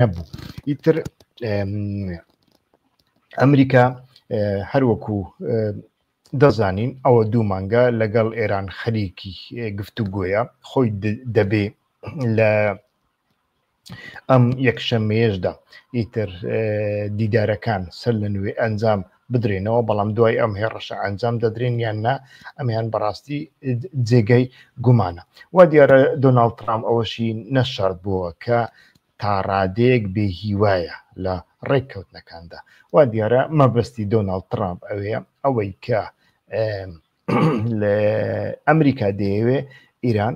هەبوو ئیتر ئەمریکا هەروەکو دەزانین ئەوە دوو مانگە لەگەڵ ئێران خەریکی گفتو گوۆیە خۆی دەبێ لە ئەم یەکشەمەیەشدا ئیتر دیدارەکان سەر لە نوێ ئەنجام بدرێنەوە بەڵام دوای ئەم هێڕشە ئەنجام دەدرێن یان نا ئەمیان بەڕاستی جێگەی گومانە وا دیارە دۆناالد ترام ئەوەشی نەشارد بووە کە تا ڕادەیەک بێ هیوایە لە ڕێککەوتنەکاندا وا دیارە مەبەستی دۆناالد ترامپ ئەوێ ئەوەی کە لە ئەمریکا دەیەوێ ئیران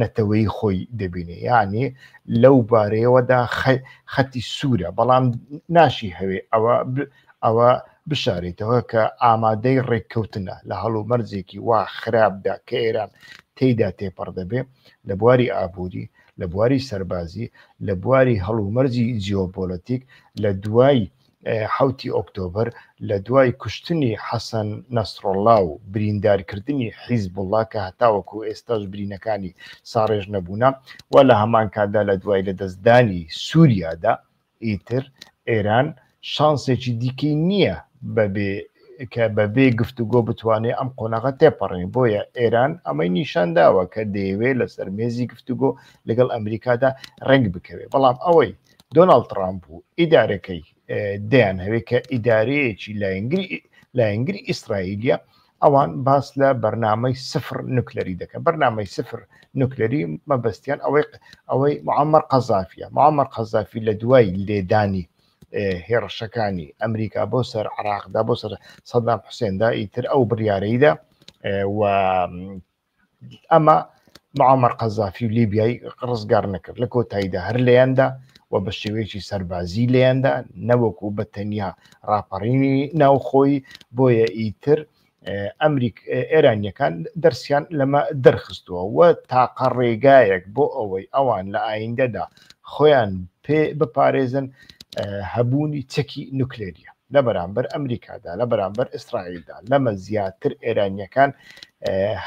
نەتەوەی خۆی دەبینێ یعنی لەو بارەیەوەدا خەتی سوورە بەڵام ناشی هەوێ ئەوە ئەوە بشارێتەوە کە ئامادەی ڕێککەوتنە لە هەڵومەرزێکی وا خراپدا کە ئێران تێیدا تێپەڕ دەبێ لە بواری ئابووری لە بواری سەربازی لە بواری هەڵومەرزی جیۆپۆلەتیک لە دوای حەوتی ئۆکتۆبەر لە دوای کوشتنی حەسەن نەسڕڵا و بریندارکردنی حیزبوڵا کە هەتاوەکو ئێستاش برینەکانی ساڕێژ نەبوونە و لە هەمان کاتدا لە دوای لە دەستدانی سووریادا ئیتر ئێران شانسێکی دیکەی نییە بەبێ کە بەبێ گفتوگۆ بتوانێت ئەم قۆناغە تێپەڕێن بۆیە ئێران ئەمەی نیشان داوە کە دەیەوێت لەسەر مێزی گفتوگۆ لەگەڵ ئەمریکادا ڕنگ بکەوێت بەڵام ئەوەی دۆناڵد ترامپ و ئیدارەکەی دەیان هەوێت کە ئیدارەیەکی لایەنگری لایەنگری ئیسرائیلە ئەوان باس لە بەرنمەی سفر نوکلەری دەکەن بەرنمەی سفر نوکلەری مەبەستیان ئەوەی ئەوەی معمەر قەزافە معمەر قەزافی لە دوای لێدانی هێڕشەکانی ئەمریکا بۆ سەر عراقدا بۆ سەر سەدام حوسێندا ئیتر ئەو بڕارەیدا و ئەمە معمر قەزافی و لیبیایی ڕزگار نەکرد لە کۆتاییدا هەر لەیاندا و بە شێوەیەکی سەربازی لەیاندا نەوەکو بە تەنیا ڕاپەڕینی ناوخۆی بۆیە ئیتر ئەمریک ئێرانیەکان دەرسیان لەمە دەرخستووە و تاقە ڕێگایەک بۆ ئەوەی ئەوان لە ئایندەدا خۆیان پێ بپارێزن هەبوونی چەکی نوکلێریە لە بەرامبەر ئەمریکادا، لە بەرامبەر ئیسرائیلدا، لەمە زیاتر ئێرانییەکان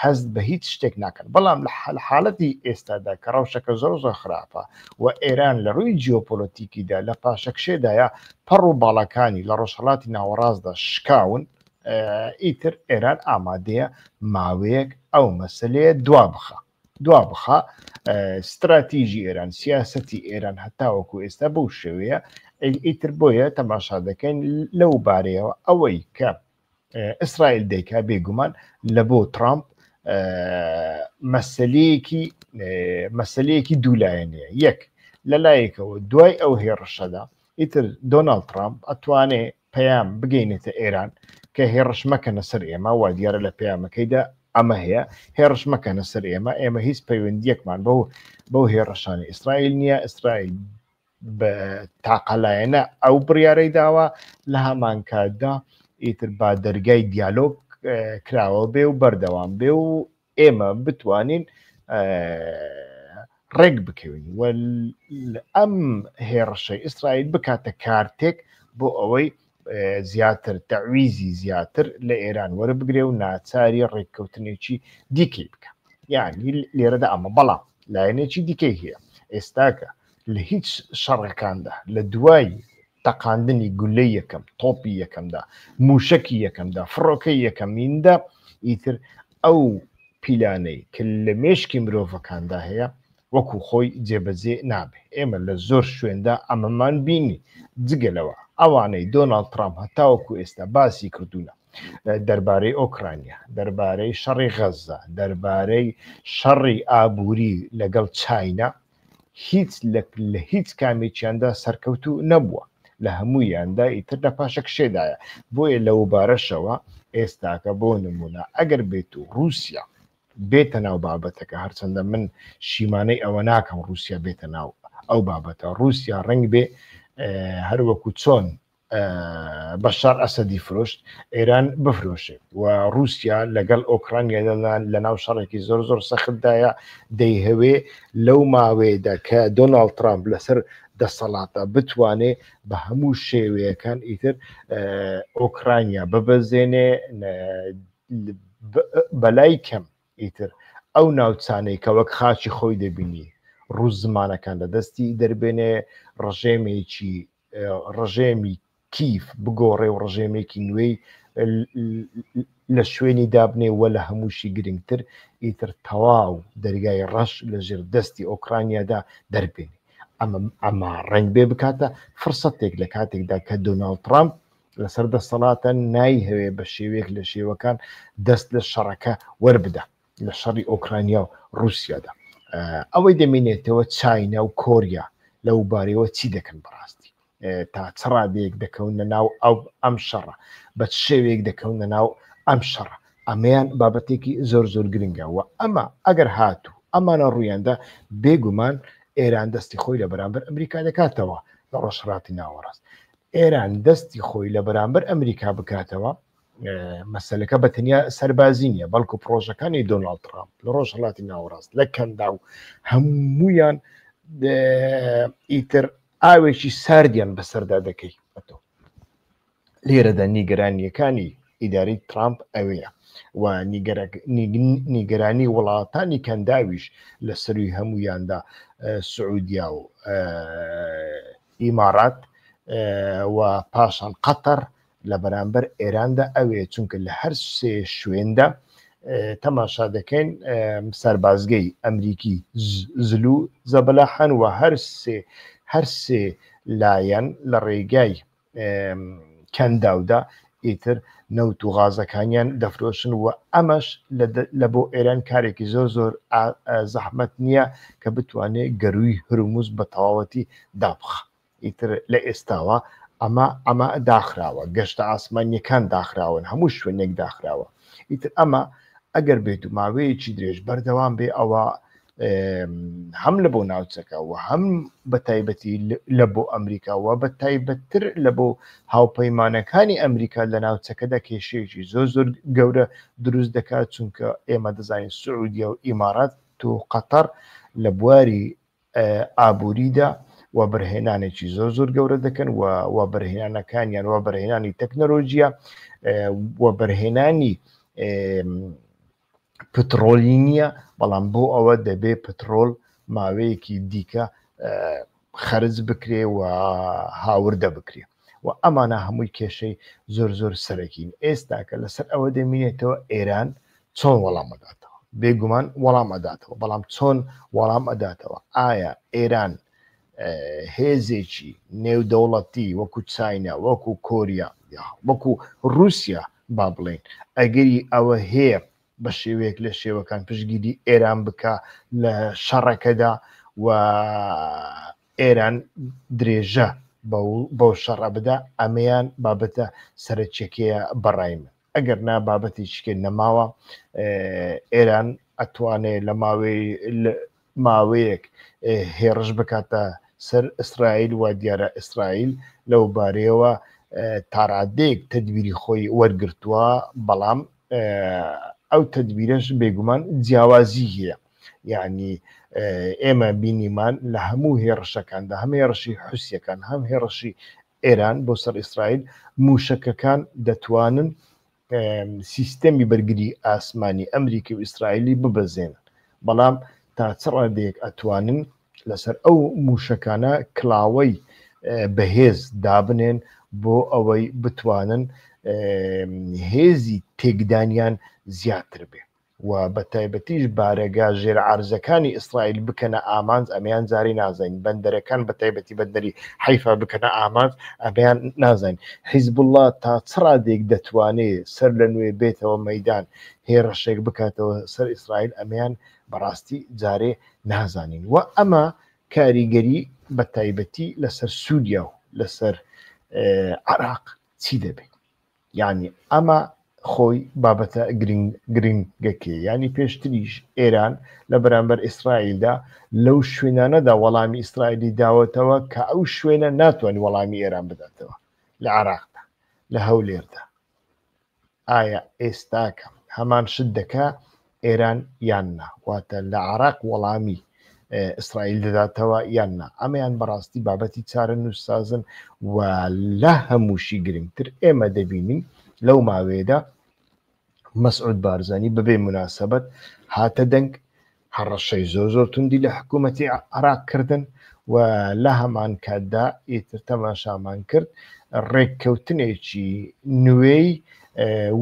هەست بە هیچ شتێک ناکەن، بەڵام لە حاڵەتی ئێستادا کە ڕەوشەکە زۆر زۆر خراپە و ئێران لە ڕووی جیۆپۆلۆتیکیدا لە پاشەکشێدایە پەڕ و باڵەکانی لە ڕۆژهڵاتی ناوەڕاستدا شکاون ئیتر ئێران ئامادەیە ماوەیەک ئەو مەسلەیە دوا بخە. دوا بخە ستراتیژی ئێران سیاستی ئێران هەتاوەکو ئێستا بەو شێوەیە ئیتر بۆیە تەماشا دەکەین لەو بارەیەوە ئەوەی کە ئیسرائیل دەیکا بێگومان لە بۆ ترامپ مەسلەیەکی مەسلەیەکی دوولایەنەیە یەک لە لایەکەوە دوای ئەو هێڕشەدا ئیتر دۆناڵد ترامپ ئەتوانێ پەیام بگەینێتە ئێران کە هێڕشمەکەنە سەر ئێمە وا دیارە لە پەیامەکەیدا ئەمە هەیە هێڕشمەکەنە سەر ئێمە ئێمە هیچ پەیوەندیەکمان بەو بەو هێڕشانی ئیسرائیل نییە ئیسرائیل بە تاقەلایەنە ئەو بڕیارەی داوە لە هەمانکاتدا ئیتر با دەرگای دیالۆگ کراوە بێ و بەردەوام بێ و ئێمە بتوانین ڕێک بکەوین و ئەم هێڕشەی ئیسرائیل بکاتە کارتێک بۆ ئەوەی زیاتر تەویزی زیاتر لە ئێران وەربگرێ و ناچاری ڕێککەوتنێکی دیکەی بکە یعنی لێرەدا ئەمە بەڵام لایەنێکی دیکەی هەیە ئێستاکە لە هیچ شەڕەکاندا لە دوای تەقاندنی گولەی یەکەم تۆپی یەکەمدا موشەکی یەکەمدا فڕۆکەی یەکەمیندا ئیتر ئەو پیلانەی کە لە مێشکی مرۆڤەکاندا هەیە وەکو خۆی جێبەجێ نابێ ئێمە لە زۆر شوێندا ئەمەمان بینی جگەلەوە ئەوانەی دۆناڵد ترام هەتاوەکو ئێستا باسی کردوونە دەربارەی ئۆکرانیا دەربارەی شەڕی غەززە دەربارەی شەڕی ئابووری لەگەڵ چاینا هیچ لە هیچ کامێکیاندا سەرکەوت و نەبووە لە هەموویاندا ئیتر لە پاشەکشێدایە بۆیە لەو بارەشەوە ئێستاکە بۆ نمونە ئەگەر بێت و رووسیا بێتە ناو بابەتەکە هەرچەندە من شیمانەی ئەوە ناکەم رووسیا بێتە ناو ئەو بابەتە رووسیا ڕنگ بێ هەروەکو چۆن بەشار ئەسەدی فرۆشت ئێران بفرۆشێت و رووسیا لەگەڵ ئۆکرانیا لەناو شەڕێکی زۆر زۆر سەختدایە دەیهوێ لەو ماوەیەدا کە دۆناڵ ترامپ لەسەر دەسەڵاتە بتوانێ بە هەموو شێوەیەکان ئیتر ئۆکرانیا ببەزێنێ بەلای کەم ئیتر ئەو ناوچانەی کە وەک خاچی خۆی دەبینی ڕوو زمانەکان لە دەستی دەربێنێ ڕژێمێکی ڕژێمی کیف بگۆڕێ و ڕژێمێکی نوێی لە شوێنی دابنێ وە لە هەمووشی گرنگتر ئیتر تەواو دەرگای ڕەش لە ژێر دەستی ئۆکرانیادا دەربێنێ ئەمە ئەمە ڕنگ بێ بکاتە فرسەتێک لە کاتێکدا کە دۆناڵد ترامپ لەسەر دەسەڵاتە نایهەوێ بە شێوێک لە شێوەکان دەست لە شەڕەکە وەربدا لە شەڕی ئۆکرانیا و رووسیادا ئەوەی دەمینێتەوە چاینا و کۆریا لەو بارەوە چی دەکەن بەڕاستی تا چ ڕادەیەک دەکەونە ناو ئەو ئەم شەڕە بە شێوەیەک دەکەونە ناو ئەم شەڕە ئەمەیان بابەتێکی زۆر زۆر گرنگە و ئەمە ئەگەر هاتوو ئەمانە ڕوویاندا بێگومان ئێران دەستی خۆی لە بەرامبەر ئەمریکا دەکاتەوە لە ڕۆژهڵاتی ناوەڕاست ئێران دەستی خۆی لە بەرامبەر ئەمریکا بکاتەوە مەسلەکە بە تەنیا سەربازی نیە بەڵکو پرۆژەکانی دۆناالد ترامپ لە ڕۆژ هەڵاتی ناوەڕاست لە کەندا و هەمویان ئیتر ئاوێکی ساردیان بەسەردا دەکەی ئەتۆ لێرەدا نیگەرانیەکانی ئیداری ترامپ ئەوەیە و نیگەرانی وڵاتانی کەنداویش لە سەروی هەمویاندا سعودیا و ئیمارات و پاشان قەتەر لە بەرامبەر ئێراندا ئەوێ چونکە لە هەر سێ شوێندا تەماشا دەکەین سەربازگەی ئەمریکی زلو زەبەلاحان و هەر سێ هەر سێ لایەن لە ڕێگای کەنداودا ئیتر نەوت و غازەکانیان دەفرۆشن و ئەمەش لە بۆ ئێران کارێکی زۆر زۆر زەحمت نییە کە بتوانێت گەروی هەرومز بە تەواوەتی دابخە ئیتر لە ئێستاوە ئەمە ئەمە داخراوە گەشتە ئاسمانیەکان داخراون هەموو شوێنێک داخراوە ئیتر ئەمە ئەگەر بێت و ماوەیەکی درێژ بەردەوام بێ ئەوە هەم لە بۆ ناوچەکە و هەم بە تایبەتی لە بۆ ئەمریکاوە بە تایبەتتر لە بۆ هاوپەیمانەکانی ئەمریکا لە ناوچەکەدا کێشەیەکی زۆر زۆر گەورە دروست دەکات چونکە ئێمە دەزانین سعودیە و ئیمارات تو قەتەر لە بواری ئابووریدا وەبەرهێنانێکی زۆر زۆر گەورە دەکەن و وەبەرهێنانەکانیان وەبەرهێنانی تەکنەلۆژیە وەبەرهێنانی پترۆلی نییە بەڵام بۆ ئەوە دەبێ پترۆل ماوەیەکی دیکە خەرج بکرێ و هاوردە بکرێت و ئەمانە هەمووی کێشەی زۆر زۆر سەرەکین ئێستاکە لەسەر ئەوە دەمینێتەوە ئێران چۆن وەڵام ئەداتەوە بێگومان وەڵام ئەداتەوە بەڵام چۆن وەڵام ئەداتەوە ئایا ئێران هێزێکی نێودەوڵەتی وەکو چینە وەکو کۆریا وەکو رووسیا با بڵێن ئەگەری ئەوە هەیە بە شێوەیەک لە شێوەکان پشگیری ئێران بکە لە شەڕەکەدا و ئێران درێژە بەو شەڕە بدا ئەمەیان بابەتە سەرچەکەیە بەڕای من ئەگەر نا بابەتی شکێن نەماوە ئێران ئەتوانێ لە ماوەی ماوەیەک هێڕش بکاتە سەر ئیسرائیل وا دیارە ئیسرائیل لەو بارەیەوە تاڕادەیەک تدبیری خۆی وەرگتووە بەڵام ئەو تدبیرش بێگومان جیاوازی هەیە یعنی ئێمە بینیمان لە هەموو هێڕشەکاندا هەم هێڕشی حوسەکان هەم هێڕشی ئێران بۆ سەر ئیسرائیل مووشەکەکان دەتوانن سیستەمی بەرگری ئاسمانی ئەمریکی و ئیسرائیلی ببەزێنن بەڵام تا چ ڕادێک ئەتوانن لەسەر ئەو مووشەکانە کلااوەی بەهێز دابنێن بۆ ئەوەی بتوانن هێزی تێکدانیان زیاتر بێ و بە تایبەتیش بارەگا ژێر عەرزەکانی ئیسرائیل بکەنە ئامانج ئەمەیان جارێ نازین بەندەرەکان بە تایبەتی بەندەری حیفا بکەنە ئامانج ئەمەیان نازین حیزب الله تا چ ڕادێک دەتوانێ سەر لە نوێ بێتەوە مەدان هێڕشێک بکاتەوە سەر ئیسرائیل ئەمەیان بەڕاستی جارێ نازانین و ئەمە کاریگەری بە تایبەتی لەسەر سووریا و لەسەر عراق چی دەبێت یعنی ئەمە خۆی بابەتە گرنگ گرنگەکەی ینی پێشتریش ئێران لە بەرامبەر ئیسرائیلدا لەو شوێنانەدا وەڵامی ئیسرائیلی داوەتەوە کە ئەو شوێنە ناتوانانی وەڵامی ئێران بداتەوە لە عراقدا لە هەولێردا ئایا ئێستاکە هەمان شت دەکە ئێران یان نا واتە لە عراق وەڵامی ئیسرائیل دەداتەوە یان نا ئەمەیان بەڕاستی بابەتی چارە نووسسازن و لە هەمووشی گرنگتر ئێمە دەبینین لەو ماوەیەدا مەسعود بارزانانی بەبێ مناسبەت هاتە دەنگ هەڕەشەی زۆر زۆر توندی لە حکوومەتی عراق کردن و لە هەمان کاتدا ئیتر تەماشامان کرد ڕێککەوتنێکی نوێی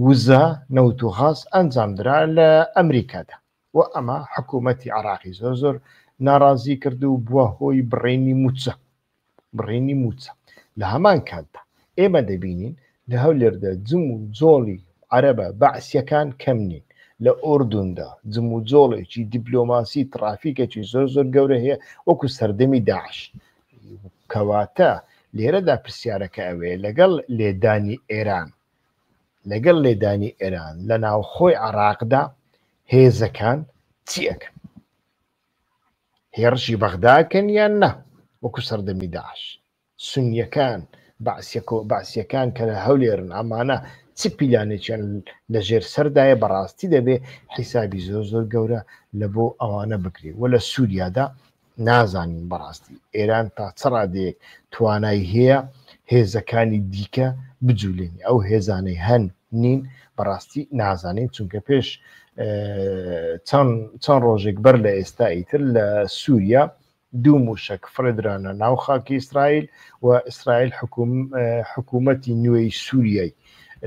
وزە نەوت و غاز ئەنجامدرا لە ئەمریکادا و ئەمە حکوومەتتی عراقی زۆر زۆر ناڕازی کرد و بووە هۆی بڕینی موچە بڕینی موچە لە هەمان کاتدا ئێمە دەبینین لە هەولێردا جم و جۆڵی عەرەبە بەعسیەکان کەم نین لە ئۆردوندا جم و جۆڵێکی دیبلۆماسی ترافیکێکی زۆر زۆر گەورە هەیە وەکو سەردەمی داعش کەواتە لێرەدا پرسیارەکە ئەوەیە لەگەڵ لێدانی ئێران لەگەڵ لێدانی ئێران لە ناوخۆی عراقدا هێزەکان چی ئەەکەن هێڕشی بەغداکەن یان نا وەکو سەردەمی داش سنیەکان باسیەکە باسیەکان کە لە هەولێرن ئەمانە چ پیلانێکیان لە ژێر سەردایە بەڕاستی دەبێ حیسابی زۆر زۆر گەورە لە بۆ ئەوانە بکرێت وە لە سووریادا نازانین بەڕاستی ئێران تا چ ڕادەیەک توانای هەیە هێزەکانی دیکە بجوولێنی ئەو هێزانەی هەن نین بەڕاستی نازانین چونکە پێش چەند ڕۆژێک بەر لە ئێستا ئیتر لە سووریا دوو موشک فرێدرانە ناو خاکی ئیسرائیل و ئیسرائیل حکوومەتی نوێی سووریای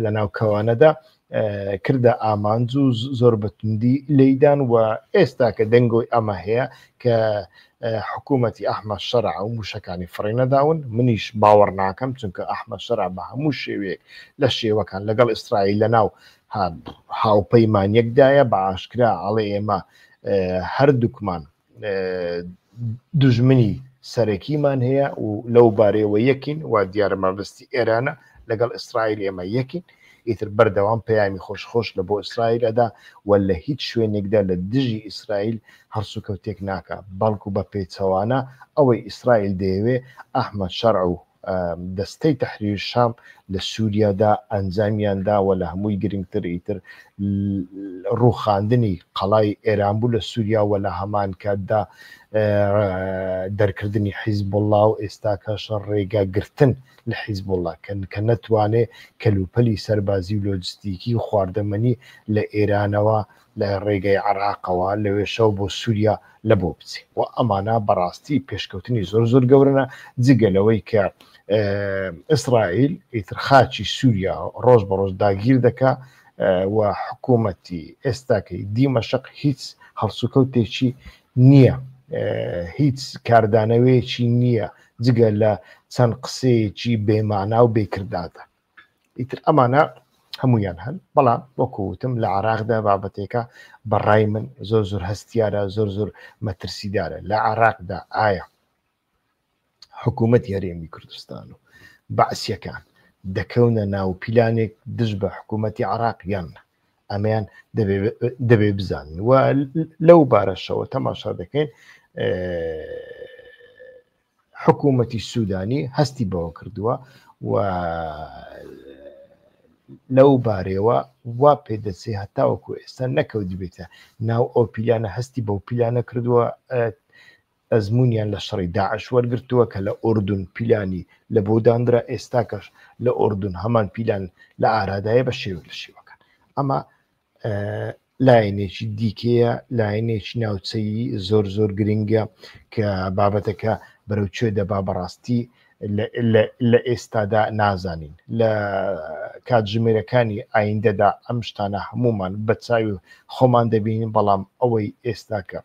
لە ناو کەوانەدا کردە ئامانج و زۆر بەتوندی لێدان و ئێستا کە دەنگۆی ئەمە هەیە کە حکوومەتتی ئەحمە شەر ئەو موشەکانی فڕێ نەداون منیش باوەڕ ناکەم چونکە ئەحمە شەر بە هەموو شێوەیەک لە شێوەکان لەگەڵ ئیسرائیل لە ناو هاوپەیمانەکدایە بە ئاشکرا ئاڵێ ئێمە هەردووکمان دوژمنی سەرەکیمان هەیە و لەو بارەیەوە یەکین و دیارە مەبستی ئێرانە لەگەڵ ئیسرائیل ئێمە یەکین ئیتر بەردەوام پەیامی خۆش خۆش لە بۆ ئیسرائیل ئەدا و لە هیچ شوێنێکدا لە دژی ئیسرائیل هەڵسوکەوتێک ناکە بەڵکو بە پێچەوانە ئەوەی ئیسرائیل دەیەوێ ئەحمەد شەرع و دەستەی تەحریر شام لە سوریادا ئەنجامیان داوە لە هەمووی گرنگتر ئیتر ڕوخاندنی قەڵای ئێران بوو لە سووریا وە لە هەمان کاتدا دەرکردنی حیزب الله و ئێستا کەش ڕێگا گرتن لە حیزب الله کەن کە نەتوانێ کەلوپەلی سەربازی و لۆجستیکی و خواردەمەنی لە ئێرانەوە لە ڕێگای عێراقەوە لەوێشەوە بۆ سوریا لە بۆ بچێ و ئەمانە بەڕاستی پێشکەوتنی زۆر زۆر گەورنە جگە لەوەی کە ئیسرائیل ئیتر خاچی سووریا ڕۆژ بە ڕۆژ داگیر دەکا و حکوومەتی ئێستاکەی دیمەشق هیچ هەڵسوکەوتێکی نییە هیچ کاردانەوەیەکی نییە جگە لە چەند قسەیەکی بێمانا و بێکرداتە ئیتر ئەمانە هەمویان هەن بەڵام وەکوتم لە عراقدا بابەتێکە بەڕای من زۆر زۆر هەستیارە زۆر زۆر مەترسیدارە لە عراقدا ئایا حکوومەت هەرێمی کوردستان و بەعسیەکان دەکەونە ناو پیلانێک دژ بە حکوومەتی عراق یان ئەمەیان دەبێ بزانن و لەو بارەشەوە تەماشا دەکەین حکوومەتی سوودانی هەستی بەوە کردووە و لەو بارەوە وا پێدەچێ هەتاوەکو ئێستا نەکەوت دبێتە ناو ئەو پیلانە هەستی بەو پیلانە کردووە ئەزمونیان لە شەڕی داعش وەرگتووە کە لە ئۆردون پیلانی لە بۆدانرا ئێستاکەش لە ئۆردون هەمان پیلان لە ئارادایە بە شێوە لە شێوەکان ئەمە لایەنێکی دیکەیە لایەنێکی ناوچەیی زۆر زۆر گرنگە کە بابەتەکە بەرەو کوێ دەبا بەڕاستی لە ئێستادا نازانین لە کاتژمێرەکانی ئایندەدا ئەم شتانە هەمومان بە چاوی خۆمان دەبینین بەڵام ئەوەی ئێستاکە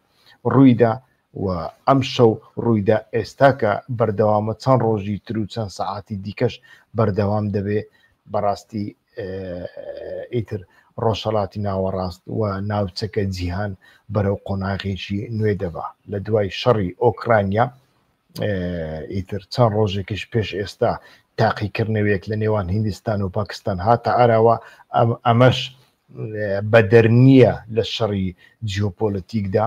ڕوویدا و ئەمشەو ڕوویدا ئێستا کە بەردەوامە چەند ڕۆژی ترو چەند سەعاتی دیکەش بەردەوام دەبێ بەڕاستی ئیتر ڕۆژهەڵاتی ناوەڕاست و ناوچەکە جیهان بەرەو قۆناغێکی نوێ دەبا لە دوای شەڕی ئۆکرانیا ئیتر چەند ڕۆژێکیش پێش ئێستا تاقیکردنەوەیەک لە نێوان هندستان و پاکستان هاتە ئاراوە ئەمەش بەدەر نییە لە شەڕی جیۆپۆلەتیکدا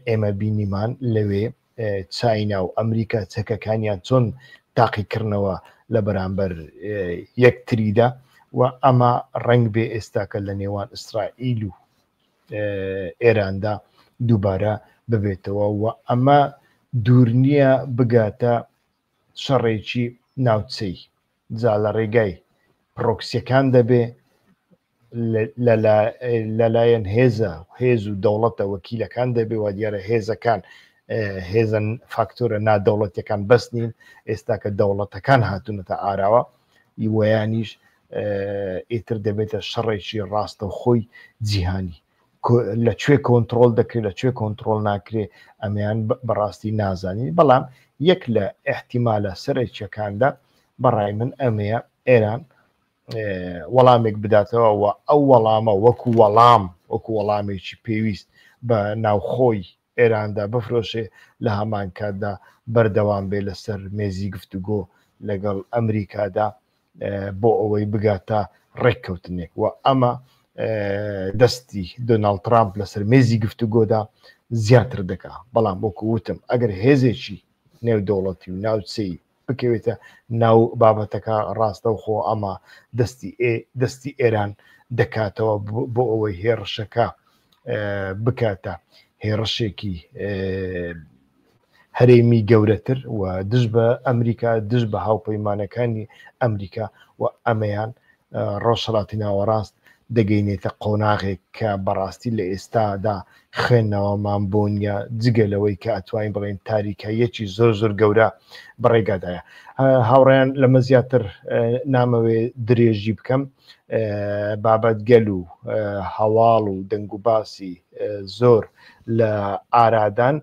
ئێمە بینیمان لەوێ چاینا و ئەمریکا چەکەکانیان چۆن تاقیکردنەوە لە بەرامبەر یەکتریدا و ئەمە ڕنگ بێ ئێستاکە لە نێوان ئیسرائیل و ئێراندا دووبارە ببێتەوە و ئەمە دوور نییە بگاتە شەڕێکی ناوچەی جا لە ڕێگای پرۆکسیەکان دەبێ لەلایەن هێزە هێز و دەوڵەتە وەکیلەکان دەبێ وا دیارە هێزەکان هێزن فاکتۆرە نادەوڵەتەکان بەس نین ئێستا کە دەوڵەتەکان هاتوونەتە ئاراوە یوەیانیش ئیتر دەبێتە شەڕێکی ڕاستە خۆی جیهانی لە کوێ کۆنتترۆل دەکرێت لە کوێ کۆنتترۆل ناکرێ ئەمیان بەڕاستی نازانین بەڵام یەک لە احتیمالە سەرێکیەکاندا بەڕای من ئەمەیە ئێران وەڵامێک بداتەوە و ئەو وەڵامە وەکو وەڵام وەکو وەڵامێکی پێویست بە ناوخۆی ئێراندا بفرۆشێ لەهەمان کاتدا بەردەوام بێ لەسەر مێزی گفتوگۆ لەگەڵ ئەمریکادا بۆ ئەوەی بگاتە ڕێککەوتنێک و ئەمە دەستی دۆناڵ ترامپ لەسەر مێزی گفتوگۆدا زیاتر دەکا بەڵام بۆکو وتم ئەگەر هێزێکی نێودەوڵەتی و ناوچەی بکەوێتە ناو بابەتەکە ڕاستەوخۆ ئەمە دەستی دەستی ئێران دەکاتەوە بۆ ئەوەی هێڕشەکە بکاتە هێڕشێکی هەرێمی گەورەتر و دژ بە ئەمریکا دژ بە هاوپەیمانەکانی ئەمریکا و ئەمەیان ڕۆژهەڵاتی ناوەڕاست دەگەینێتە قۆناغێک کە بەڕاستی لە ئێستادا خوێندنەوەمان بۆ نییە جگە لەوەی کە ئەتوانین بڵێن تاریکاییەکی زۆر زۆر گەورە بەڕێگادایە هاوڕیان لەمە زیاتر نامەوێ درێژی بکەم بابەت گەل و هەواڵ و دەنگ و باسی زۆر لە ئارادان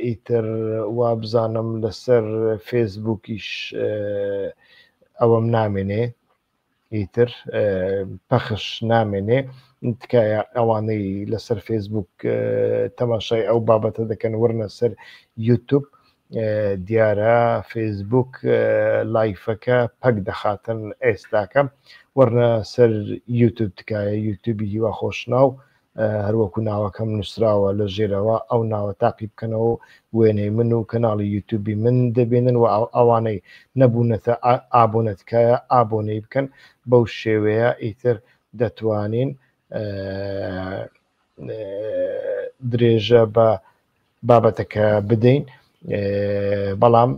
ئیتر وابزانم لەسەر فێسبووکیش ئەوەم نامێنێ ئیتر پەخش نامێنێ تکایە ئەوانەی لەسەر فێسبووک تەماشای ئەو بابەتە دەکەن ورنە سەر یوتوب دیارە فێسبووک لایفەکە پەک دەخاتن ئێستاکەم وەرنە سەر یوتوب تکایە یوتوبی هیوا خۆشناو هەروەکو ناوەکەم نووسراوە لە ژێرەوە ئەو ناوە تاقی بکەنەوە و وێنەی من و کەناڵی یوتوبی من دەبێنن و ئەوانەی نەبوونەتە ئابۆنە تکایە ئابۆنەی بکەن بەو شێوەیە ئیتر دەتوانین درێژە بە بابەتەکە بدەین بەڵام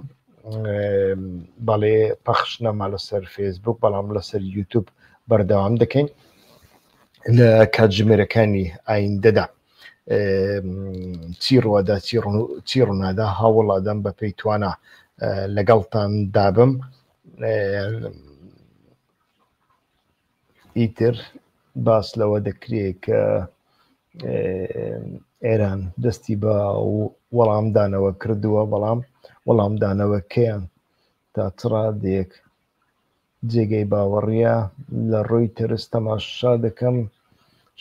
بەڵێ پەخش نەما لەسەر فێسبوک بەڵام لەسەر یوتوب بەردەوام دەکەین لە کاتژمێرەکانی ئایندەدا چی ڕوەدا چی ڕوونادا هاوڵادەم بە پێی توانە لەگەڵتان دابم ئیتر باس لەوە دەکرێ کە ئێران دەستی بە وەڵامدانەوە کردووە بەڵام وەڵامدانەوەکەیان تا چڕادێک جێگەی باوەڕە لە ڕۆی تەرس تەماشا دەکەم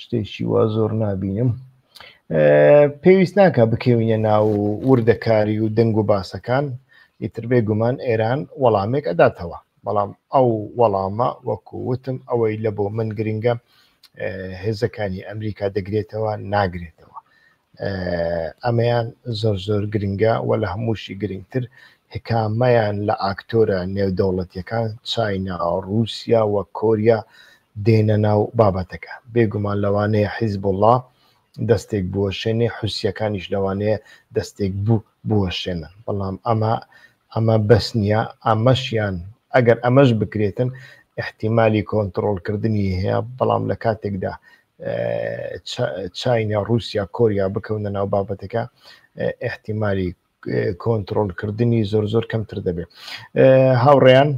شتێکی وا زۆر نبینم پێویست ناکە بکەوینە ناو وردەکاری و دەنگ و باسەکان ئیتر بێ گومان ئێران وەڵامێک ئەداتەوە بەڵام ئەو وەڵامە وەکو وتم ئەوەی لە بۆ من گرنگە هێزەکانی ئەمریکا دەگرێتەوە ناگرێتەوە ئەمەیان زۆر زۆر گرنگە و لە هەمووشی گرنگتر هکامەیان لە ئاکتۆرە نێودەوڵەتیەکان چاینا رووسیا و کۆریا دێنە ناو بابەتەکە بێگومان لەوانەیە حیزب وڵا دەستێک بوەشێنێ حوسیەکانیش لەوانەیە دەستێک بوو بوەشێنن بەڵام ئەمە ئەمە بەس نییە ئەمەشیان ئەگەر ئەمەش بکرێتن احتیممالی کۆنتترۆلکردنی هەیە بەڵام لە کاتێکدا چینە رووسیا کۆریا بکەونە ناو بابەتەکە احتیممالی کۆنتترۆلکردنی زۆر زۆر کەمتر دەبێت هاوڕێیان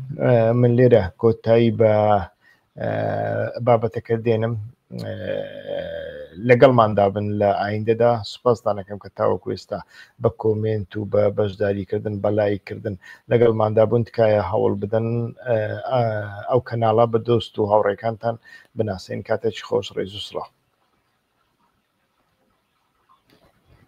من لێرە کۆتایی بە بابەتەکە دێنم لەگەڵماندا بن لە ئایندەدا سوپاستانەکەم کە تاوەکو ئێستا بە کۆمنت و بە بەشداریکردن بەلایکردن لەگەڵماندا بوون تکایە هەوڵ بدەن ئەو کەناڵە بە دۆست و هاوڕێکانتان بناسێن کاتێکی خۆش ڕێز و سڵاو